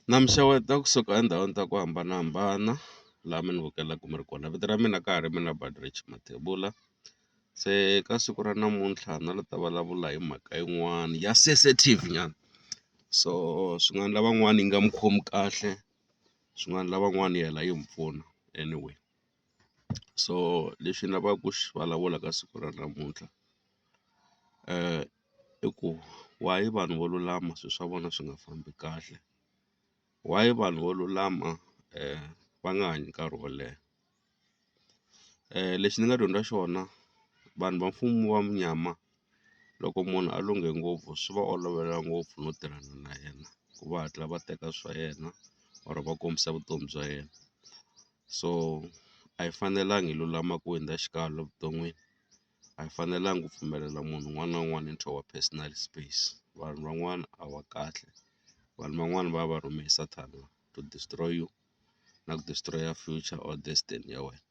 na mi xeweta kusuka endhawini ta ku hambanahambana laha mi ni vukelaka mi ri kona vito ra mina ka ha ri mina Mathebula se ka siku ra namuntlha na la ta vulavula hi mhaka yin'wani ya sensitive nyana so swin'wana lavan'wana yi nga mi khomi kahle swin'wana lavan'wana yi hela yi mi pfuna anyway so lexi ni lavaka ku xi vulavula ka siku ra namuntlha . i ku why vanhu vo lulama swi swa vona swi nga fambi kahle why vanhu vo lulama va nga hanyi nkarhi wo leha lexi ni nga dyondza xona vanhu va mfumo wa munyama loko munhu a lunghe ngopfu swi va olovela ngopfu no tirhana na yena ku va hatla va teka swa yena or va kombisa vutomi bya yena so a hi fanelanga hi lulama ku hundza xikalo evuton'wini. a hi fanelanga ku pfumelela munhu un'wana na un'wana into our personal space vanhu van'wana a va kahle vanhu van'wani va va rhume hi sathana to destroy you na ku destroy future or destiny ya wena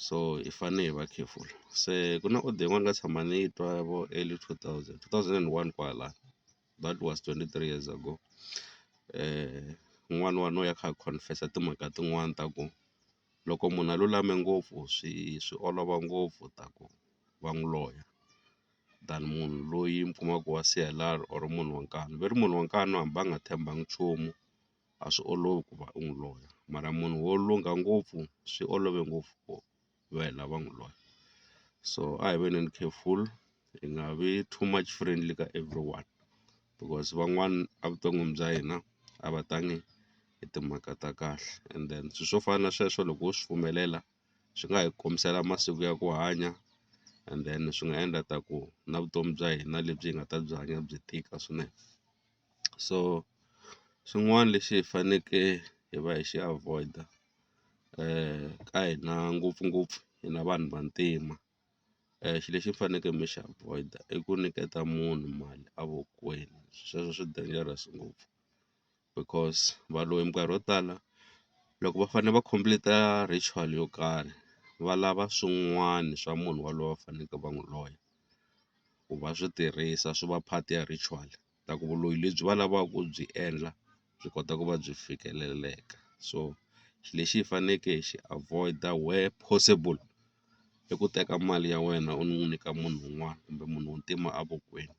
so hi fane hi va careful se ku na order yin'wana nga tshama ni yi twa vo early two thousand two thousand and one kwala that was twenty three years ago um n'wana wa no ya kha a confess-a timhaka tin'wani ta ku. loko munhu a lulame ngopfu swi swi olova ngopfu ta ku va n'wi loya than munhu loyi mi kumaku wa C_L_R or munhu wa nkani ve ri munhu wa nkani hambi a nga tshembangi nchumu a swi olovi ku va u n'wi loya mara munhu wo lungha ngopfu swi olove ngopfu ku va hi lava n'wi loya so a hi veneni careful hi nga vi too much friendly ka everyone. because van'wani a vuton'wini bya hina a va tangi hi timhaka ta kahle and then swi swo fana na sweswo loko wo swi pfumelela swi nga hi khomisela masiku ya ku hanya and then swi nga endla ta ku na vutomi bya hina lebyi hi nga ta byi hanya byi tika swinene so xin'wani lexi hi faneke hi va hi xi avoid-a ka hina ngopfungopfu hina vanhu vantima xi lexi mi faneke mi xi avoid i ku nyiketa munhu mali a vokweni sweswo swi dangerous ngopfu because valoyi minkarhi yo tala loko va fane va complete ritual yo karhi va lava swin'wani swa munhu waloye va faneke va n'wi loya ku va swi tirhisa swi va part ya ritual. ta ku vuloyi lebyi va lavaka ku byi endla byi kota ku va byi fikeleleka so lexi hi faneleke hi xi avoid-a where possible i ku teka mali ya wena u n'wi nyika munhu un'wana kumbe munhu u ntima evokweni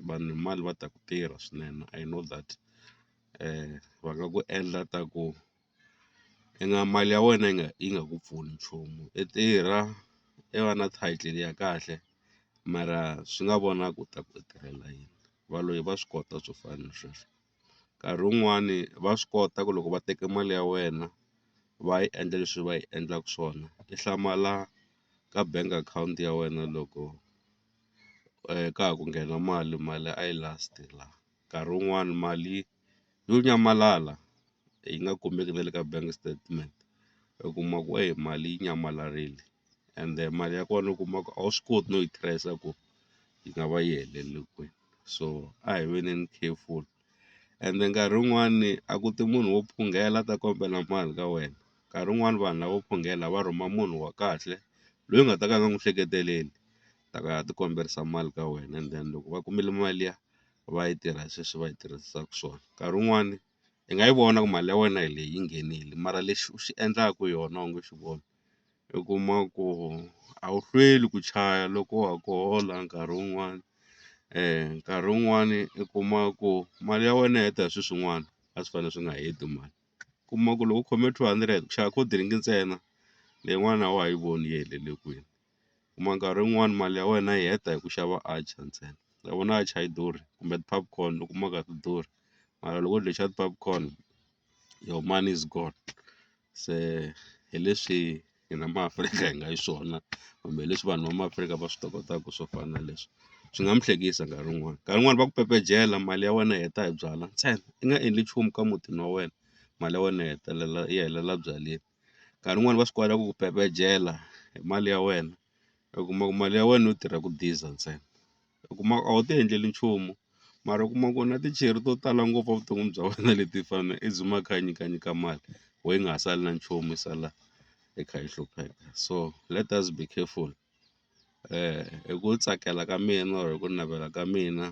vanhu hi mali va ta ku tirha swinene I know that va nga ku endla ta ku i nga mali ya wena yi nga yi nga ku pfuni nchumu i tirha i va na title ya kahle mara swi nga vona ku ta ku i tirhela yini valoyi va swi kota swo fana na sweswo nkarhi wun'wani va swi kota ku loko va teke mali ya wena va yi endla leswi va yi endlaka swona ti hlamala ka bank account ya wena loko ka ha ku nghena mali mali a yi last la. nkarhi wun'wani mali yo nyamalala yi nga kumeki na le ka bank statement u kuma ku eyi mali yi nyamalarile ende mali ya kona u kuma ku a wu swi koti no yi trace ku yi nga va yi helelele kwini so a hi veneni careful ende nkarhi wun'wani a ku ti munhu wo phungela a ta kombela mali ka wena nkarhi wun'wani vanhu lavo phungela va rhuma munhu wa kahle loyi u nga ta ka u nga n'wi hleketeleli. ta ku ya ti kombisa mali ka wena and then loko va kumile mali liya va yi tirha sweswi va yi tirhisaka swona nkarhi wun'wani i nga yi vona ku mali ya wena hi leyi yi nghenile mara lexi u xi endlaka yona u nge xi voni u kuma ku a wu hlweli ku chaya loko wa ha ku hola nkarhi wun'wani nkarhi wun'wani i kuma ku mali ya wena yi heta hi swilo swin'wana a swi fanele swi nga heti mali u kuma ku loko u khome two hundred u xava cold drink ntsena leyin'wana a wa ha yi voni yi helele kwini. kuma nkarhi wun'wani mali ya wena yi heta hi ku xava atchar ntsena ma vona atchar a yi durhi kumbe ti-popcorn u kuma nga ti durhi mara loko u dye xa ti-popcorn your money is gone se hi leswi hina maAfrika hi nga xiswona kumbe hi leswi vanhu va maAfrika va swi tokotaka swo fana na leswi swi nga mi hlekisa nkarhi wun'wani nkarhi wun'wani va ku pepejela mali ya wena yi heta hi byalwa ntsena i nga endli nchumu ka mutini wa wena mali ya wena yi hetelela yi helela byaleni. nkarhi wun'wani va swi kota ku ku pepejela hi mali ya wena u kuma ku mali ya wena yo tirha ku diza ntsena u kuma a wu ti endleli nchumu mara u kuma ku na tichere to tala ngopfu evuton'wini bya wena leti fanele as u makha nyika nyika mali why yi nga ha sali na nchumu yi sala yi kha yi hlupheka so let us be careful hi ku tsakela ka mina or hi ku navela ka mina.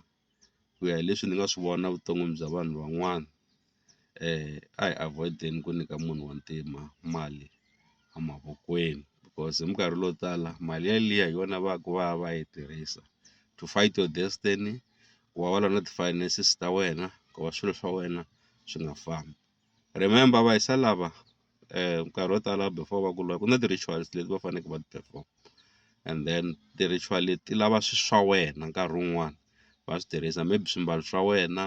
ku ya hi leswi ni nga swi vona vuton'wini bya vanhu van'wana a hi avoid-eni ku nyika munhu wa ntima mali a mavokweni because hi minkarhi leyo tala mali ya liya hi yona va ku va ya va ya yi tirhisa to fight your destiny ku va va lwa na ti-finances ta wena ku va swilo swa wena swi nga fambi. Remember va hisa lava nkarhi wo tala before va ku lwa ku na ti-rituals leti va faneleke va ti perform and then ti-ritual leti ti lava swilo swa wena nkarhi wun'wani va swi tirhisa maybe swimbalo swa wena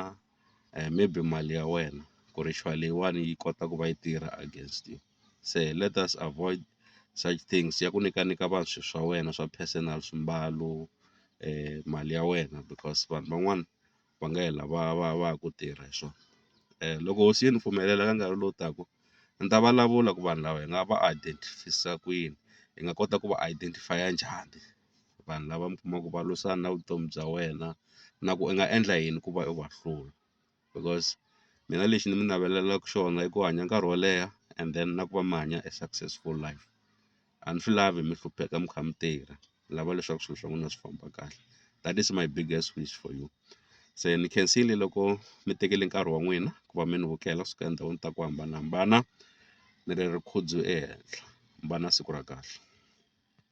maybe mali ya wena ku ritual leyiwani yi kota ku va yi tirha against you se let us avoid such things ya ku nyikanyika vanhu swilo swa wena swa personal swimbalo mali ya wena because vanhu van'wana va nga hela va va va ha ku tirha hi swona. Loko hosi yi ni pfumelela ka nkarhi lowu taka ni ta vulavula ku vanhu lava hi nga va identify-isa ku yini hi nga kota ku va identify-a njhani vanhu lava mi kumaka va lwisana na vutomi bya wena na ku i nga endla yini ku va u va hlula because mina lexi ni mi navelelaku xona i ku hanya nkarhi wo leha and then na ku va mi hanya a successful life. a ni swi lavi mi hlupheka mi kha mi tirha ni lava leswaku swilo swa n'wina swi famba kahle that is my biggest wish for you se ni khensile loko mi tekele nkarhi wa n'wina ku va mi ni vukela kusuka endhawini ta ku hambanahambana ni ri ri khudzu ehenhla mi va na siku ra kahle.